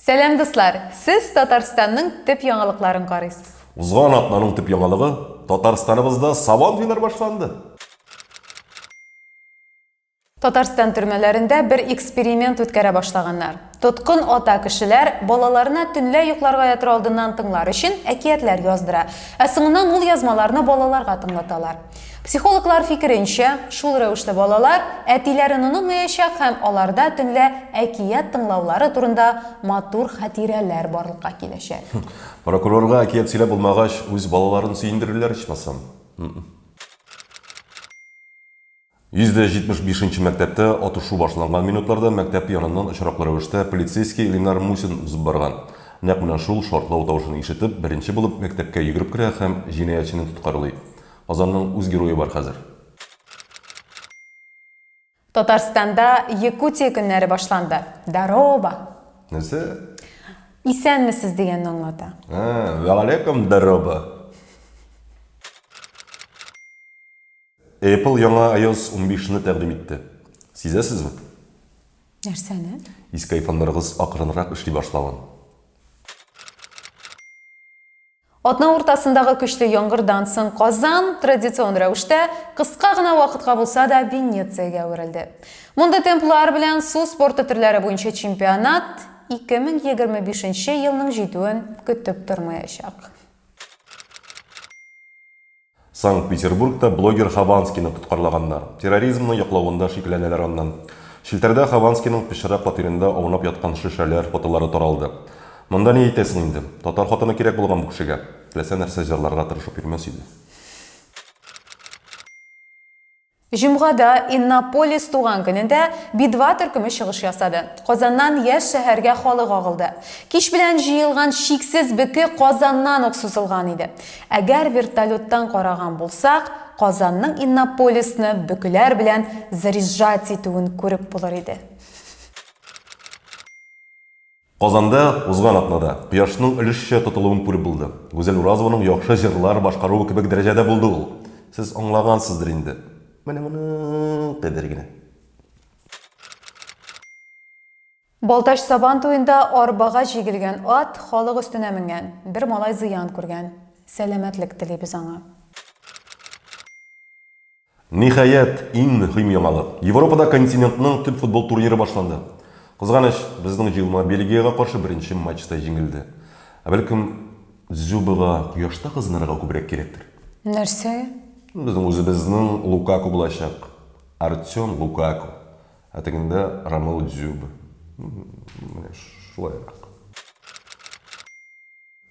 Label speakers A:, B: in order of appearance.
A: Сәлам, дуслар! Сез Татарстанның төп яңалыкларын карыйсыз. Узган атнаның
B: төп яңалыгы Татарстаныбызда сабан туйлар башланды.
A: Татарстан төрмәләрендә бер эксперимент үткәрә башлаганнар. Тоткын ата кешеләр балаларына төнлә йокларга ятыр алдыннан тыңлар өчен әкиятләр яздыра, ә соңыннан ул язмаларны балаларга тыңлаталар. Психологлар фикеренчә, шул рәвешле балалар әтиләрен онытмаячак һәм аларда төнлә әкият тыңлаулары турында матур хатирәләр барлыкка киләчәк. Прокурорга
B: әкият сөйләп булмагач, үз балаларын сөендерерләр ичмасам. 175 нче мәктәптә атышу башланган минутларда мәктәп яныннан очраклы рәвештә полицейский Ленар Мусин узып барган. Нәкъ менә шул шартлау тавышын ишетеп, беренче булып мәктәпкә йөгереп керә һәм җинаятьчене тоткарлый. Казанның үз герое бар хәзер.
A: Татарстанда Якутия көннәре башланды. Дароба! Нәрсә?
B: Исәнмесез
A: дигәнне аңлата. Ә, вәгаләйкүм
B: дароба! Apple яңа iOS 15 ны тәкъдим итте. Сизәсезме?
A: Нәрсәне? Иске
B: айфоннарыгыз акрынрак эшли башлавын.
A: Атна уртасындагы көчле яңгырдан соң Казан традицион рәвештә кыска гына вакытка булса да Венециягә әверелде. Мондый темплар белән су спорты төрләре буенча чемпионат 2025 нче елның җитүен көтеп тормаячак.
B: Санкт-Петербургта блогер Хованскийны тоткарлаганнар. Терроризмны яклавында шикләнәләр аннан. Челтәрдә Хованскийның пычрак фатирында аунап яткан шешәләр фотолары таралды. Монда ни әйтәсең инде. Татар хатыны кирәк булган бу кешегә. Теләсә нәрсә җырларга тырышып йөрмәс иде.
A: Җомгада, Иннополис туган көнендә, Би-2 төркеме чыгыш ясады. Казаннан яшь шәһәргә халык агылды. Кич белән җыелган чиксез бөке Казаннан ук сузылган иде. Әгәр вертолеттан караган булсак, Казанның Иннополисны бөкеләр белән заряжать итүен күреп булыр иде.
B: Казанда узган атнада Кояшның өлешчә тотылуын күреп булды. Гүзәл Уразованың яхшы җырлар башкаруы кебек дәрәҗәдә булды ул. Сез аңлагансыздыр инде. Менә моның кадәр генә.
A: Балтач Сабан туенда арбага җигелгән ат халык өстенә менгән. Бер малай зыян күргән. Сәламәтлек телибез аңа.
B: Ниһаять, иң мөһим яңалык, Европада континентның төп футбол турниры башланды. Кызганыч, безнең җыелма Бельгиягә каршы беренче матчта җиңелде. Ә бәлкем, Дзюбага кояшта кызынырга күбрәк кирәктер? Нәрсә?
A: Безнең
B: үзебезнең Лукаку булачак. Артем Лукаку. Ә тегендә, Ромео Дзюба. Менә шулайрак.